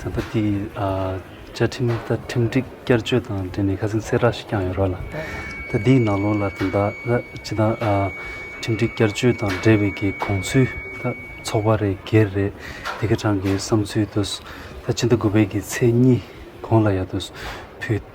ཚན་པ་དེའི་བཅའ་ཁྲིམས་དང་ཁྲིམས་སྒྲིག་བསྐྱར་བཅོས་དང་འབྲེལ་ནས་ཁ་སེམས་སེ་རགས་ཤིག་བསྐྱངས་ཡོད་རོགས་ལ། ད་དེའི་ནང་ལོགས་ལ་དེ་དག་ལ་ཅི་དང། ཁྲིམས་སྒྲིག་བསྐྱར་བཅོས་དང་འབྲེལ་བའི་གི་གོང་ཚུལ་ད་ཚོགས་པ་རེ་སྒེར་རེ་དེ་གི་གྲངས་ཀྱི་བསམ་ཚུལ་དུ། ད་ཕྱི་ཟླ་དགུ་པའི་གི་ཚེས་གཉིས་གོང་ལ་ཡ་དུ་ཕུལ།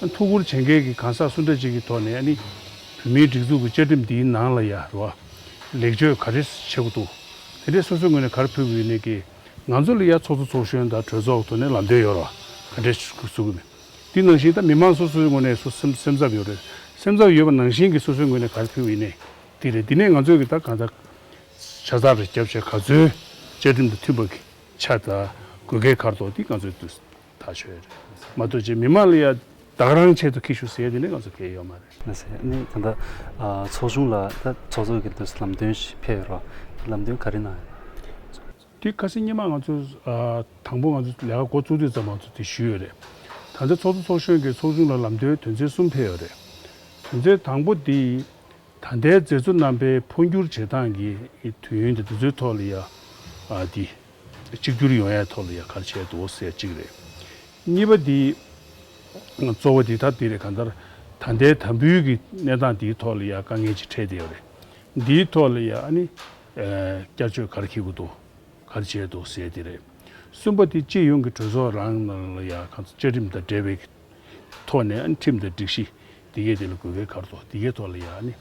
ཐུགས་ཁུར་བྱེད་མཁན་གྱི་གང་ཟག་སུ་འདྲ་ཅིག་གི་ཐོག་ནས་ནི། བོད་མིའི་སྒྲིག་འཛུགས་ཀྱི་བཅའ་ཁྲིམས་འདིའི་ནང་ལ་ཡ་རོ་ཨ། ལེགས་བཅོས་ག་རེ་བྱེད་དགོས་འདུག་དེ་འདྲས་སོ་སོའི་ངོས་ནས་གར་ཕུལ་དགོས་ཡོད་མེད་ཀྱི། ང་ཚོ་ལ་ཡ་ཚོགས་གཙོ་ཚོགས་གཞོན་དང་གྲོས་ཚོགས་ཐོག་ནས་ལམ་སྟོན་ཡོད་རོ་ཨ་ག་འདྲས་བྱེད་དགོས་མེད། དེ་ནང་བཞིན་ད་མི་མང་སོ་སོའི་ངོས་ནས་སོ་སེམས་སེམས་འཚབ་ཡོད་རེད། སེམས་འཚབ་ཡོད་པ་ནང་བཞིན་གྱི་སོ་སོའི་ངོས་ནས་གར་ཕུལ་དགོས་ཡོད་ནི་དེ་རེད་དེ་ནས་ང་ཚོས་གི་ད་གང་ཟག་ཆ་ཚགས་རེ་བསྐྱབས་བྱས་ག་ཚོད་བཅའ་ཁྲིམས་དང་མཐུན་པ་གི་ཆ་ཚགས་དགོས་གལ་གར་དོགས་དེ་ང་ཚོས་ཐག་ཆོད་རེད། མ་གཏོགས་ཀྱི་མི་མང་ལ་ཡང་བདག་རང་ཆེད་དུ་ཁེ་ཤུགས་ཟེར་ཡ་དེ་ནི་ང་ཚོ་དགེ་ཡོད་མ་རེད། མ་ཟད་ནི་ད་ལྟ་ཚོགས་ཆུང་ལ་ད་ཚོགས་གཙོ་གི་དུས་སུ་ལམ་སྟོན་ཞིག་ཕེབས་ཡོད་རོགས། ལམ་སྟོན་ག་རེ་གནང་ཡོད་རེད། དེ་ཁ་སང་སྙན་མ་ང་ཚོ་དང་པོ་ང་ཚོ་ལས་ཀ་འགོ་བཙུགས་དུས་ཙམ་ང་ཚོ་དེ་ཞུས་ཡོད་རེད། ད་ཚོགས་གཙོ་ཚོགས་གཞོན་གྱིས་ཚོགས་ཆུང་ལ་ལམ་སྟོན་དོན་ཚན་གསུམ་ཕེབས་ཡོད་རེད། དོན་ཚན་དང་པོ་དེ་ད་ལྟའི་མཛེས་བཟོ་རྣམ་པའི་འཕོ་འགྱུར་བྱེད་སྟངས་ཀྱི་དུས་ཡུན་དེ་དུས་ཚོད་ཐོག་ལ་ཡ་དེ། གཅིག་གྱུར་ཡོང་ཡ་ཐོག་ལ་ཡ་གར་བྱས་འདུག་ཟེར་གཅིག་རེད། གཉིས་པ་དེ། གཙོ་བོ་དེ་ཐབས་དེ་རེད་གང་ལྟར། ད་ལྟའི་དམ་འབུལ་གྱི་གནས་སྟངས་དེའི་ཐོག་ལ་ཡ་དཀའ་ངལ་ཅིག་འཕྲད་བསྡད་ཡོད་རེད། འདིའི་ཐོག་ལ་ཡ་ཨ་ནི། བསྐྱར་བཅོས་གར་འཁྱེར་དགོས་འདུག་གར་བྱས་འདུག་ཟེར་དེ་རེད། གསུམ་པ་དེ་སྤྱི་ཡོངས་ཀྱི་གྲོས་ཚོགས་རང་ནང་ལ་ཡ་གང་ལྟར་བཅའ་ཁྲིམས་དང་འབྲེལ་བའི། ཐོག་ནས་ཨ་ནི་ཁྲིམས་དང་སྒྲིག་གཞི་དེ་སྐད་དེ་ལ་གོ་བའི་ཁར་ཐོག་དེ་སྐད་ཐོག་ལ་ཡང་ཨ་ནི་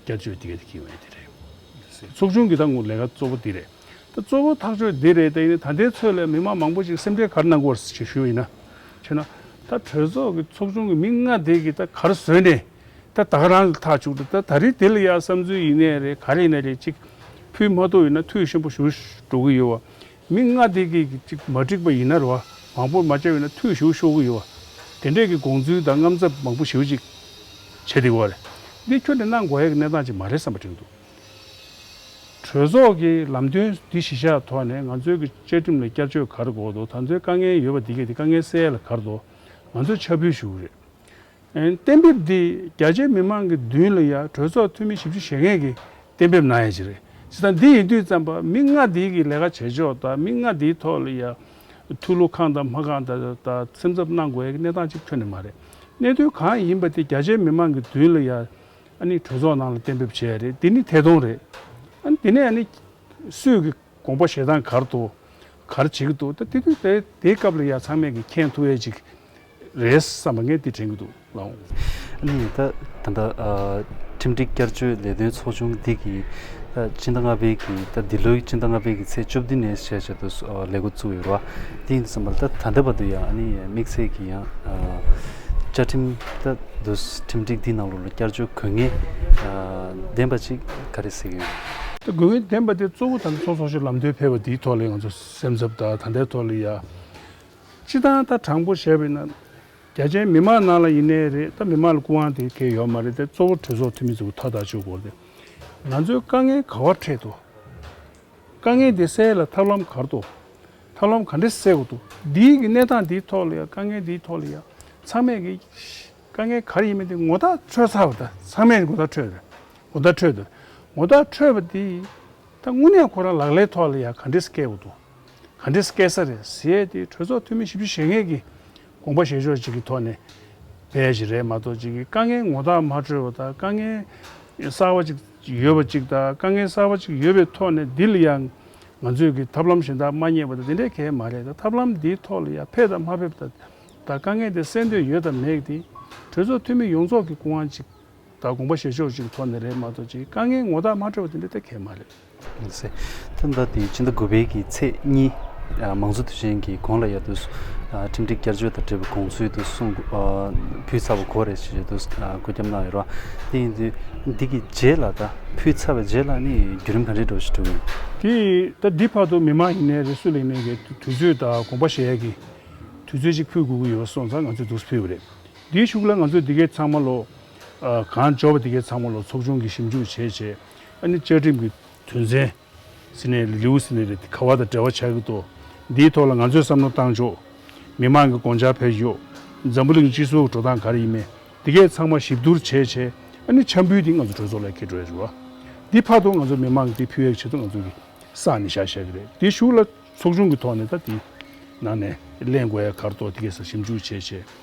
བསྐྱར་བཅོས་དེ་སྐད་དེ་ཁེངས་བའི་དེ་རེད། ཚོགས་ཆུང་གི་ད་ངོ་ལས་ཀ་གཙོ་བོ་དེ་རེད། ད་གཙོ་བོ་ཐག་གཅོད་དེ་རེད་ད་ཡིན་ན་ད་ལྟའི་ཚོད་ལ་མི་མང་མང་པོ་ཞིག་སེམས་ཁྲལ་གར་གནང་དགོས་ཞེས་ཞུ་ཡིན་ན། ཆོས་ན། ད་གྲོས་ཚོགས་ཀྱི་ཚོགས་ཆུང་གི་མི་ལྔ་དེ་གི་ད་གར་བཟོས་ནས་ད་ད་ག་རང་གི་ཐག་བཅུག་ཏུ་ད་ད་རིས་དེ་ལ་ཡང་བསམ་ཚུལ་ཡིན་ནའི་རེད་ག་རེ་ཡིན་ན་རེད་ཅིག་ཕུལ་མ་ཐུག་ཡིན་ན་ཐུག་ཤིན་པོ་ཞུ་འགྲོ་གི་ཡོད་བ་མི་ལྔ་སྡེ་དགེ་གི་ཅིག་མ་འགྲིག་པ་ཡིན་ན་རུ་བ་མང་པོར་མ་བཅར་བས་ན་ཐུགས་ཞུགས་ཤོར་གི་ཡོད་བ། དེ་འདྲས་ཀྱི་དགོངས་ཚུལ་དང་རྔམ་ཚབ་མང་པོ་ཞིའུ་ཅིག་བྱས་འདི་གོ་རེ། འདི་ཁྱོད་ཀྱི་གནང་དགོས་ཡག་གི་གནས་སྟངས་ཅིག་མ་རེད་བསམ་པ་དྲན་འདུག་གྲོས་ཚོགས་ཀྱི་ལམ་སྟོན་འདི་གཞི་བཞག་ཐོག་ནས་ང་ཚོའི་གི་བཅའ་ཁྲིམས་ལ་བསྐྱར་བཅོས་གར་དགོས་དོ་ད་ཚོའི་དཀའ་ངལ་ཡོད་པ་འདི་གས་དེ་དཀའ་ངལ་སེལ་གར་དོ་ང་ཚོས་འཆར་འབུལ་ཞུ་རེད། གཏན་འབེབས་འདི་རྒྱ་ཆེའི་མི་མང་གི་མདུན་ལ་ཡང་གྲོས་ཚོགས་འཐུས་མི་བཞི་བཅུ་ཞེ་ལྔས་ཀྱིས་གཏན་འབེབས་གནང་ཡ་ཅིག་རེད། བྱས་ཙང་འདི་ཡིན་དུས་ཙམ་པར་མི་ལྔ་འདི་གི་ལས་ཀ་བྱེད་ཕྱོགས་དང་མི་ལྔ་འདིའི་ཐོག་ལ་ཡང་ཐུགས་བློ་ཁང་དང་མ་ཁང་དང་སེམས་འཚབ་གནང་དགོས་ཡ་གི་གནས་སྟངས་གཅིག་ཐོན་ནི་མ་རེད། གནད་དོན་གང་ཡིན་པ་དེ་རྒྱ་ཆེའི་མི་མང་གི་མདུན་ལ་ཡང་ཨ་ནི་གྲོས་ཚོགས་ནང་ལ་གཏན་འབེབས་བྱས་ཡ་རེད་འདི་ནི་ཐད་གཏོང་རེད། ཨ་ནི་འདི་ནས་ཨ་ནི་སུས་གི་དགོངས་པ་བཞེས་སྟངས་གར་དུ་གར་བྱེད་ཀྱི་འདུག་ད་དེ་དུས་དེའི་སྐབས་ལ་ཡང་ཚང་མས་ཀྱིས་མཁྱེན་ཐུབ་ཡ་ཅིག་རེད་བསམ་པ་ངས་དེ་དྲན་གྱི་འདུག་ལགས། གནས་ཡིན་ད་ད་ལྟ་ཁྲིམས་སྒྲིག་བསྐྱར་བཅོས་ལས་དོན་ཚོགས་ཆུང་འདི་གིས་ད་སྤྱི་ཟླ་ལྔ་པའི་གི་ད་འདི་ལོའི་སྤྱི་ཟླ་ལྔ་པའི་གི་ཚེས་བཅུ་བདུན་ནས་ཞེས་བྱས་ཏུ་ལས་འགོ་བཙུགས་ཡོད་རེད་བ། དེ་ཡིན་བསམ་པ་ད་ད་ལྟ་བར་དུ་ཡང་ཨ་ནི་དམིགས་བསལ་གྱི་ཡང་བཅའ་ཁྲིམས་ད་དུ་ཁྲིམས་སྒྲིག་འདིའི་ནང་ལོ་ལོ་བསྐྱར་བཅོས་དགོས་ངེས་ལྡན་པ་ཅིག་ག་རེ་ཟེར་གྱི་ཡོད། ད་དགོས་ངེས་ལྡན་པ་དེ་གཙོ་བོ་ད་ལྟ་ཚོགས་ཚོགས་ཆུང་ལམ་སྟོན་ཕེབས་པ་འདིའི་ཐོག་ལ་ང་ཚོ་སེམས་འཚབ་དང་ད་ལྟའི་ཐོག་ལ་ཡང། སྤྱི་བཏང་ད་དྲང་པོ་བཤད་པའི་ན། རྒྱ་ཆེན་མི་མང་ནང་ལ་ཡིན་ནའི་རེད་ད་མི་མང་ལ་སྐུ་དབང་དེ་གས་ཡོད་མ་རེད་དེ་གཙོ་བོ་གྲོས་ཚོགས་འཐུས་མི་ཚོ་མཐའ་དག་ཆོས་སྒོར་དེ། ང་ཚོའི་དཀའ་ངལ་ག་བར་འཕྲད་དོ། དཀའ་ངལ་དེ་སེལ་ལ་ཐབས་ལམ་གར་དོ། ཐབས་ལམ་ག་འདྲེ་སེལ་དགོས་དོ། འདིའི་གི་གནས་སྟངས་འདིའི་ཐོག་ལ་ཡང་དཀའ་ངལ་འདིའི་ཐོག་ལ་ཡང། ཚང་མས་གི། དཀའ་ངལ་གར་ཡིན་མིན་དེ་ངོ་ཐག་ཆོད་ཚར་བ་ད་ཚང་མས་ངོ་ཐག་ཆོད། ངོ་ཐག་ཆོད། ངོ་ཐག་ཆོད་པ་དེ། ད་དངོས་གནས་ཁོ་རང་ལག་ལེན་ཐོག་ལ་ཡང་ག་འདྲེ་སྐྱེལ་དགོས་དོ། ག་འདི་སྐད་ས་རེད་ཟེར་ཏེ་གྲོས་ཚོགས་འཐུས་མི་བཞི་བཅུ་ཞེ་ལྔས་ཀྱིས་དགོངས་པ་བཞེས་ཕྱོགས་གཅིག་གི་ཐོག་ནས་བས་ཅི་རེད་མ་གཏོགས་གཅིག་གིས་དཀའ་ངལ་ངོ་ཐག་མ་འཁྲོལ་བ་དང་དཀའ་ངལ་གསར་བ་གཅིག་ཡོད་པ་གཅིག་དང་དཀའ་ངལ་གསར་བ་གཅིག་ཡོད་པའི་ཐོག་ནས་འདི་ལ་ཡང་ང་ཚོས་ཀྱིས་ཐབས་ལམ་གཞན་དག་མ་རྙེད་པ་དང་དེ་འདྲའི་གལ་མ་རེད་ད་ཐབས་ལམ་འདིའི་ཐོག་ལ་ཡང་ཕེབས་དང་མ་ཕེབས་ད་དཀའ་ངལ་འདི་སེལ་འདོད་ཡོད་དམ་མེད་དེ་གྲོས་ཚོགས་འཐུས་མི་ཡོངས་རྫོགས་ཀྱི་སྐུ་དབང་གཅིག། ད་དགོངས་པ་བཞེས་ཕྱོགས་ཅིག་ཐོག་ནས་རེད་མ་གཏོགས་ཅིག་དཀའ་ངལ་ངོ་ཐག་མ་འཕྲོད་པ་དེ་འདྲ་ཐད་གལ་མ་རེད། མི་སྲིད། ཐེངས་འདི་དེ་སྤྱི་ཟླ་དགུ་པའི་གི་ཚེས་གཉིས། མང་གཙོ་དུས་ཆེན་གྱི་དགོང་ལ་ཡལ་དུས་སུ། ཁྲིམས་སྒྲིག་བསྐྱར་བཅོས་དང་འབྲེལ་བའི་དགོངས་ཚུལ་དུ་གསུང། ཕུལ་ཚར་བ་གོ་རེད་ཞེས་བརྗོད་དུས་བཀོད་རྒྱབ་གནང་ཡོད་རོགས། དེ་ཡིན་དུས་འདི་གི་རྗེས་ལ་ད་ཕུལ་ཚར་བའི་རྗེས་ལ་ནི་བརྒྱུད་རིམ་ག་འདྲའི་འགྲོ་ཞེས་དྲི་བ་ཡིན། དེས་ད་འདི་བར་དུ་མི་མང་ཡིན་ནའི་རེ་སུ་ལེ་ནའི་གི་དུས་ཚོད་ད་དགོངས་པ་བཞེས་ཡག་གི་དུས་ཚོད་ཅིག་ཕུལ་དགོས་ཀྱི་ཡོད་སོགས་ཙང་ང་ཚོས་འདུག་སུ་ཕུལ་བ་རེད། འདིའི་ཤུགས་ལ་ང་ཚོས་འདི་གའི་ཚང་མ་ལོ། གང་འབྱོར་བ་འདི་གའི་ཚང་མ་ལོ་ཚོགས་ཆུང་གིས་ཞིབ་འཇུག་བྱས་བྱས། ཨ་ནི་བཅའ་ཁྲིམས་ཀྱི་དོན་ཚན། སི་ནེ་ལི་ལིའུ་སི་ནེ་ལི་དེ་ག་བ་དང་འབྲེལ་བ་ཆགས་ཀྱི་འདུག་འདིའི་ཐོག་ལ་ང་ཚོས་བསམ་བློ་བཏང་ཆོག། མི་དམངས་ཀྱི་དགོངས་འཆར་ཕེབས་ཤོག། འཛམ་བུ་གླིང་སྤྱི་ཚོགས་ཀྱི་འགྲོ་སྟངས་ག་རེ་ཡིན་མིན་འདི་གའི་ཚང་མ་ཞིབ་བསྡུར་བྱས་བྱས། ཨ་ནི་འཆམ་འབུལ་འདི་ང་ཚོ་གྲོས་ཚོགས་ལ་ཁེལ་འགྲོ་ཡ་རུ། འདི་ཕ་དོ་ང་ཚོ་མི་དམངས་ཀྱིས་ཕུལ་ཡ་ཆེད་དུ་ང་ཚོ་གིས་བསགས་ནས་བཞག་བཞག་གི་རེད་འདིའི་ཤུགས་ལ་ཚོགས་ཆུང་གི་ཐོག་ནས་ད་འདིའི་ནང་ནས་གླེང་དགོས་ཡ་གར་ཐོག་འདི་གའི་སར་ཞིབ་འཇུག་བྱས་བྱས།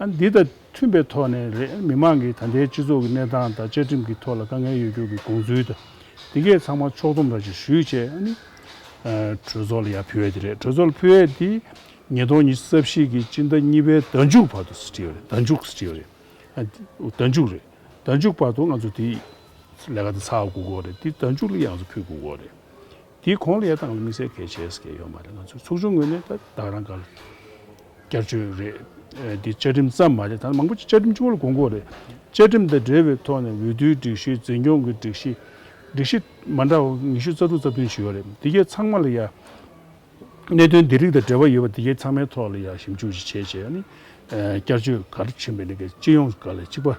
འདི་དང་མཐུན་པའི་ཐོག་ནས་རེད། མི་དམངས་ཀྱིས་ད་ལྟའི་སྤྱི་ཚོགས་ཀྱི་གནས་སྟངས་དང་བཅའ་ཁྲིམས་ཀྱི་ཐོག་ལ་དཀའ་ངལ་ཡོད་རྒྱུ་གྱི་དགོངས་ཚུལ་དང། དེ་གས་ཚང་མ་ཕྱོགས་སྡོམ་ར་བཞིན་ཞུས་བྱས་ཨ་ནི། གྲོས་ཚོགས་ལ་ཡར་ཕུལ་བས་དེ་རེད། གྲོས་ཚོགས་ལ་ཕུལ་བས་དེ། ཉིས་སྟོང་ཉི་ཤུ་རྩ་བཞི་གྱི་སྤྱི་ཟླ་གཉིས་པའི་ཟླ་མཇུག་བར་དུ་སྤྲད་ཡོད་རེད་ཟླ་མཇུག་སྤྲད་ཡོད་རེད། ཟླ་མཇུག་རེད། ཟླ་མཇུག་བར་དུ་ང་ཚོ་དེ། ལས་ཀ་དེ་ཚགས་དགོས་དགོས་རེད། དེ་ཟླ་མཇུག་ལ་ཡང་ང་ཚོ་ཕུལ་དགོས་དགོས་རེད། དེའི་གོང་ལ་ཡ་ཐང་ལ་དམིགས་བསལ་གལ་ཆེ་ས་ཁེལ་ཡོད་མ་རེད་ང་ཚོས་ཚོགས་ཆུང་ངོས་ནས་ད་བདག་རང་ག་ལ་བསྐྱར་བཅོས་རེད་དེ་བཅའ་ཁྲིམས་ཙམ་མ་རེད་ད་མང་པོ་ཅིག་བཅའ་ཁྲིམས་ཆུང་ངུ་ལ་གོ་དགོས་རེད་བཅའ་ཁྲིམས་དང་འབྲེལ་བའི་ཐོག་ནས་འོས་བསྡུའི་སྒྲིག་གཞི་འཛིན་སྐྱོང་གི་སྒྲིག་གཞི་སྒྲིག་གཞི་མ་འདྲ་བ་ཉི་ཤུ་རྩ་དྲུག་རྩ་བདུན་ཅིག་ཡོད་རེད་དེ་གའི་ཚང་མ་ལ་ཡ་གནད་དོན་འདི་རིགས་དང་འབྲེལ་བ་ཡོད་པ་དེ་གའི་ཚང་མའི་ཐོག་ལ་ཡ་ཞིབ་འཇུག་ཅིག་བྱས་རྗེས་ཡ་ནི་བསྐྱར་བཅོས་ག་རེ་བྱེད་མི་རེད་གལ་ཅི་ཡོང་ག་ལ་གཅིག་པ།